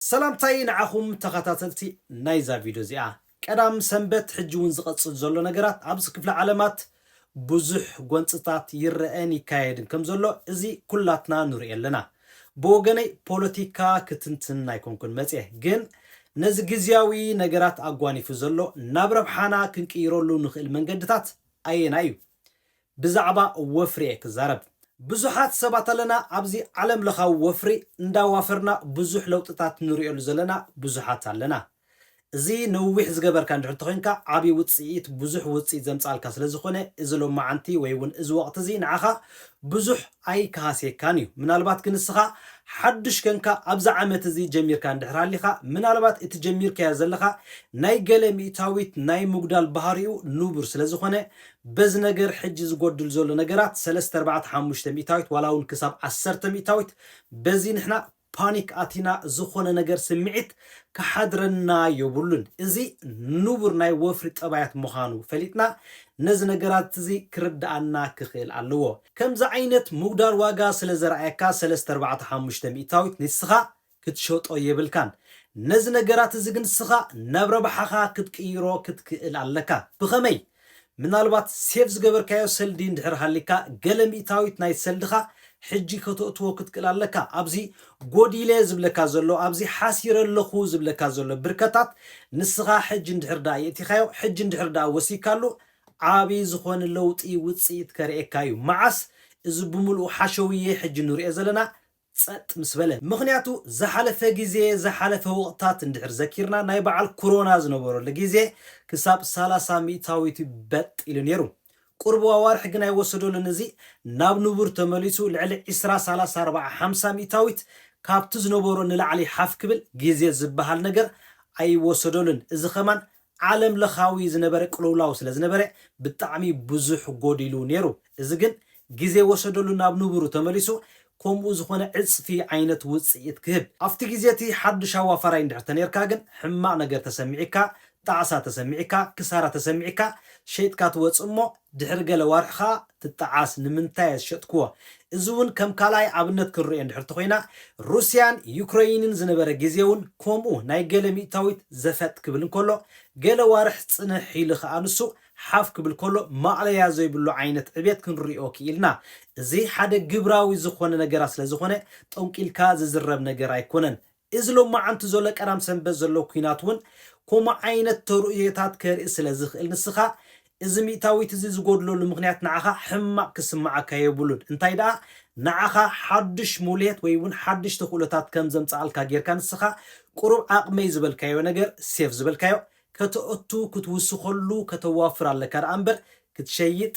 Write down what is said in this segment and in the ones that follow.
ሰላምታይ ንዓኹም ተኸታተልቲ ናይዛ ቪድዮ እዚኣ። ቀዳም ሰንበት ሕጂ ውን ዝቐጽል ዘሎ ነገራት ኣብዚ ክፍለ ዓለማት ብዙሕ ጎንጽታት ይረኣን ይካየድን ከም ዘሎ እዚ ኩላትና ንርእዮ ኣለና። ብወገነይ ፖለቲካ ክትንትን ኣይኮንኩን መጽየ ግን ነዚ ግዝያዊ ነገራት ኣጓኒፉ ዘሎ ናብ ረብሓና ክንቅይረሉ ንኽእል መንገድታት ኣየናይ እዩ ብዛዕባ ወፍሪ'የ ክዛረብ። ብዙሓት ሰባት ኣለና ኣብዚ ዓለም ለኻዊ ወፍሪ እንዳዋፈርና ብዙሕ ለውጥታት ንርእየሉ ዘለና ብዙሓት ኣለና። እዚ ነዊሕ ዝገበርካ እንድሕር እንተኾይንካ ዓቢ ውጽኢት ብዙሕ ውጽኢት ዘምጽኣልካ ስለዝኾነ እዚ ሎማዓንቲ ወይ ውን እዚ ወቕቲ እዚ ንዓኻ ብዙሕ ኣይክሃስየካን እዩ። ምናልባት ግን ንስኻ ሓዱሽ ከንካ ኣብዚ ዓመት እዚ ጀሚርካ እንድሕር ሃሊኻ ምናልባት እቲ ጀሚርካዮ ዘለኻ ናይ ገለ ሚእታዊት ናይ ምጉዳል ባህሪኡ ንቡር ስለዝኾነ በዚ ነገር ሕጂ ዝጎድል ዘሎ ነገራት ሰለስተ ኣርባዕተ ሓሙሽተ ሚእታዊት ዋላ ውን ክሳብ ዓሰርተ ሚእታዊት በዚ ንሕና ፓኒክ ኣቲና ዝኾነ ነገር ስምዒት ክሓድረና ዮብሉን እዚ ንቡር ናይ ወፍሪ ጠባያት ምኻኑ ፈሊጥና ነዚ ነገራት እዚ ክርድኣና ክኽእል ኣለዎ ከምዚ ዓይነት ምጉዳል ዋጋ ስለ ዘርኣየካ ሰለስተ ኣርባዕተ ሓሙሽተ ሚእታዊት ንስኻ ክትሸጦ የብልካን ነዚ ነገራት እዚ ግን ንስኻ ናብ ረብሓኻ ክትቅይሮ ክትክእል ኣለካ። ብኸመይ? ምናልባት ሴቭ ዝገበርካዮ ሰልዲ እንድሕር ሃሊካ ገለ ሚእታዊት ናይ ሰልድኻ ሕጂ ከተእትዎ ክትክእል ኣለካ። ኣብዚ ጎዲለ ዝብለካ ዘሎ ኣብዚ ሓሲረ ኣለኹ ዝብለካ ዘሎ ብርከታት ንስኻ ሕጂ እንድሕር ደኣ የእቲኻዮ ሕጂ እንድሕር ደኣ ወሲካሉ ዓቢ ዝኾነ ለውጢ ውጽኢት ከርእየካ እዩ። መዓስ? እዚ ብምልኡ ሓሸውየ ሕጂ ንርእዮ ዘለና ጸጥ ምስ በለ። ምኽንያቱ ዝሓለፈ ግዜ ዝሓለፈ ወቕትታት እንድሕር ዘኪርና ናይ በዓል ኩሮና ዝነበረሉ ግዜ ክሳብ ሰላሳ ሚእታዊት በጥ ኢሉ ኔሩ። ቁሩብ ኣዋርሕ ግን ኣይወሰደሉን እዚ ናብ ንቡር ተመሊሱ ልዕሊ ዕስራ ሰላሳ ኣርባዓ ሓምሳ ሚእታዊት ካብቲ ዝነበሮ ንላዕሊ ሓፍ ክብል ግዜ ዝበሃል ነገር ኣይወሰደሉን እዚ ከማን ዓለም ለኻዊ ዝነበረ ቅልውላው ስለ ዝነበረ ብጣዕሚ ብዙሕ ጎዲሉ ነይሩ እዚ ግን ግዜ ወሰደሉ ናብ ንቡሩ ተመሊሱ ከምኡ ዝኾነ ዕጽፊ ዓይነት ውጽኢት ክህብ። ኣብቲ ግዜ እቲ ሓዱሽ ኣዋፋራይ እንድሕር ተነይርካ ግን ሕማቕ ነገር ተሰሚዒካ ጣዕሳ ተሰሚዒካ ክሳራ ተሰሚዒካ ሸይጥካ ትወጽእ እሞ ድሕሪ ገለ ዋርሕ ከኣ ትጠዓስ ንምንታየ ዝሸጥክዎ እዚ ውን ከም ካልኣይ ኣብነት ክንርእዮ እንድሕር ተኾይና ሩስያን ዩክረይንን ዝነበረ ግዜ ውን ኮምኡ ናይ ገለ ሚእታዊት ዘፈጥ ክብል እንከሎ ገለ ዋርሕ ጽንሕ ኢሉ ከኣ ንሱ ሓፍ ክብል ከሎ ማእለያ ዘይብሉ ዓይነት ዕብየት ክንርእዮ ክኢልና እዚ ሓደ ግብራዊ ዝኾነ ነገራት ስለ ዝኾነ ጦንቂልካ ዝዝረብ ነገር ኣይኮነን እዚ ሎማዓንቲ ዘሎ ቀዳም ሰንበት ዘሎ ኩናት ውን ኮምኡ ዓይነት ተርእዮታት ከርኢ ስለ ዝኽእል ንስኻ እዚ ሚእታዊት እዚ ዝጎድለሉ ምኽንያት ንዓኻ ሕማቕ ክስምዓካ የብሉን እንታይ ደኣ ንዓኻ ሓዱሽ ሙልየት ወይ ውን ሓዱሽ ተኽእሎታት ከም ዘምጽኣልካ ጌርካ ንስኻ ቁሩብ ዓቕመይ ዝበልካዮ ነገር ሴፍ ዝበልካዮ ከተእቱ ክትውስኸሉ ከተዋፍር ኣለካ ደኣ እምበር ክትሸይጥ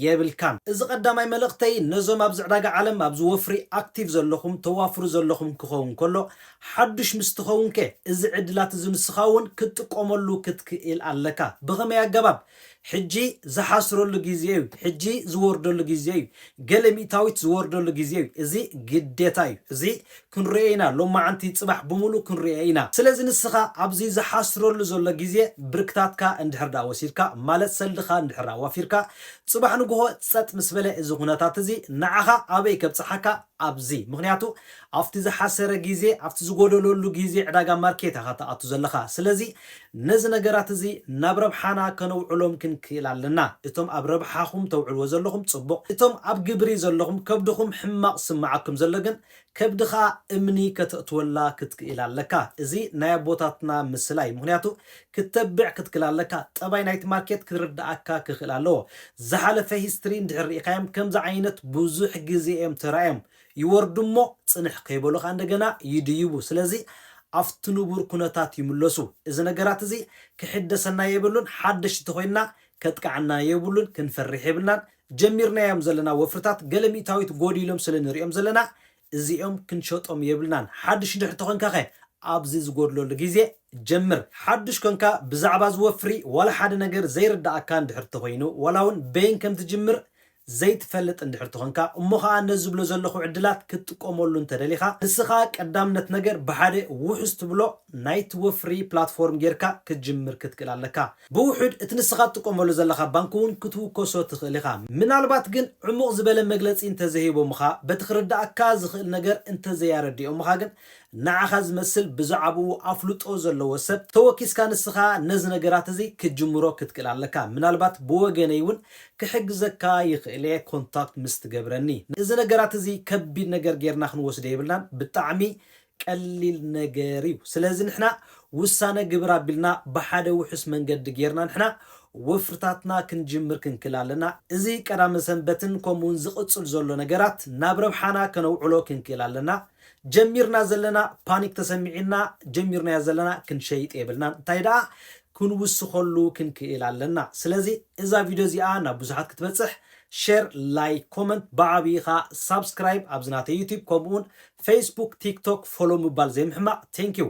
የብልካን። እዚ ቀዳማይ መልእኽተይ ነዞም ኣብዚ ዕዳጋ ዓለም ኣብዚ ወፍሪ ኣክቲቭ ዘለኹም ተዋፍሩ ዘለኹም ክኸውን ከሎ ሓዱሽ ምስ ትኸውንከ እዚ ዕድላት እዚ ንስኻ እውን ክትጥቀመሉ ክትክኢል ኣለካ ብኸመይ ኣገባብ ሕጂ ዝሓስረሉ ግዜ እዩ፣ ሕጂ ዝወርደሉ ግዜ እዩ፣ ገለ ሚእታዊት ዝወርደሉ ግዜ እዩ፣ እዚ ግዴታ እዩ፣ እዚ ክንርእዮ ኢና፣ ሎማዕንቲ ጽባሕ ብምሉእ ክንርእዮ ኢና። ስለዚ ንስኻ ኣብዚ ዝሓስረሉ ዘሎ ግዜ ብርክታትካ እንድሕር ድኣ ወሲድካ ማለት ሰልድኻ እንድሕር ኣዋፊርካ ጽባሕ ንግሆ ጸጥ ምስ በለ እዚ ኩነታት እዚ ንዓኻ ኣበይ ከብጽሓካ ኣብዚ ምኽንያቱ ኣብቲ ዝሓሰረ ግዜ ኣብቲ ዝጎደለሉ ግዜ ዕዳጋ ማርኬት ኢኻ ትኣቱ ዘለኻ ስለዚ ነዚ ነገራት እዚ ናብ ረብሓና ከነውዕሎም ክንክእል ኣለና። እቶም ኣብ ረብሓኹም ተውዕልዎ ዘለኹም ጽቡቕ፣ እቶም ኣብ ግብሪ ዘለኹም ከብድኹም ሕማቕ ዝስምዓኩም ዘሎ ግን ከብድኻ እምኒ ከተእትወላ ክትክእል ኣለካ። እዚ ናይ ኣቦታትና ምስላ እዩ ምኽንያቱ ክተብዕ ክትክል ኣለካ። ጠባይ ናይቲ ማርኬት ክርድኣካ ክኽእል ኣለዎ። ዝሓለፈ ሂስትሪ እንድሕር ርኢኻዮም ከምዚ ዓይነት ብዙሕ ግዜ እዮም ተራእዮም ይወርዱ'ሞ ጽንሕ ከይበሉ ከኣ እንደገና ይድይቡ። ስለዚ ኣብቲ ንቡር ኩነታት ይምለሱ። እዚ ነገራት'ዚ ክሕደሰና የብሉን፣ ሓደሽቲ ተኾይንና ከጥቅዓና የብሉን፣ ክንፈርሕ የብልናን። ጀሚርናዮም ዘለና ወፍርታት ገለ ሚእታዊት ጎዲሎም ስለ ንርእዮም ዘለና እዚኦም ክንሸጦም የብልናን። ሓድሽ ድሕሪ ተኾንካኸ ኣብዚ ዝጎድለሉ ግዜ ጀምር። ሓዱሽ ኮንካ ብዛዕባ'ዚ ወፍሪ ዋላ ሓደ ነገር ዘይርደኣካ እንድሕር ተኾይኑ ዋላ'ውን በይን ከም ትጅምር ዘይትፈልጥ እንድሕር ተኾንካ እሞ ኸኣ ነዚ ዝብሎ ዘለኹ ዕድላት ክትጥቀመሉ እንተደሊኻ ንስኻ ቀዳምነት ነገር ብሓደ ውሑስ ትብሎ ናይ'ቲ ወፍሪ ፕላትፎርም ጌርካ ክትጅምር ክትክእል ኣለካ። ብውሑድ እቲ ንስኻ ትጥቀመሉ ዘለኻ ባንክ እውን ክትውከሶ ትኽእል ኢኻ። ምናልባት ግን ዕሙቕ ዝበለ መግለጺ እንተዘይሂቦምኻ በቲ ክርድኣካ ዝኽእል ነገር እንተዘይኣረዲኦምኻ ግን ንዓኻ ዝመስል ብዛዕብኡ ኣፍልጦ ዘለዎ ሰብ ተወኪስካ ንስኻ ነዚ ነገራት እዚ ክትጅምሮ ክትክእል ኣለካ ምናልባት ብወገነይ ውን ክሕግዘካ ይኽእል እየ ኮንታክት ምስ ትገብረኒ እዚ ነገራት እዚ ከቢድ ነገር ጌርና ክንወስዶ የብልናን ብጣዕሚ ቀሊል ነገር እዩ ስለዚ ንሕና ውሳነ ግብር ኣቢልና ብሓደ ውሑስ መንገዲ ጌርና ንሕና ወፍርታትና ክንጅምር ክንክል ኣለና እዚ ቀዳመ ሰንበትን ከምኡ ውን ዝቕጽል ዘሎ ነገራት ናብ ረብሓና ከነውዕሎ ክንክእል ኣለና ጀሚርና ዘለና ፓኒክ ተሰሚዒና ጀሚርናዮ ዘለና ክንሸይጥ የብልናን እንታይ ደኣ ክንውስኸሉ ክንክእል ኣለና ስለዚ እዛ ቪድዮ እዚኣ ናብ ብዙሓት ክትበጽሕ ሼር ላይክ ኮመንት ብዓብዪ ከኣ ሳብስክራይብ ኣብዚ ናተይ ዩቲብ ከምኡውን ፌስቡክ ቲክቶክ ፎሎ ምባል ዘይምሕማቕ ቴንኪው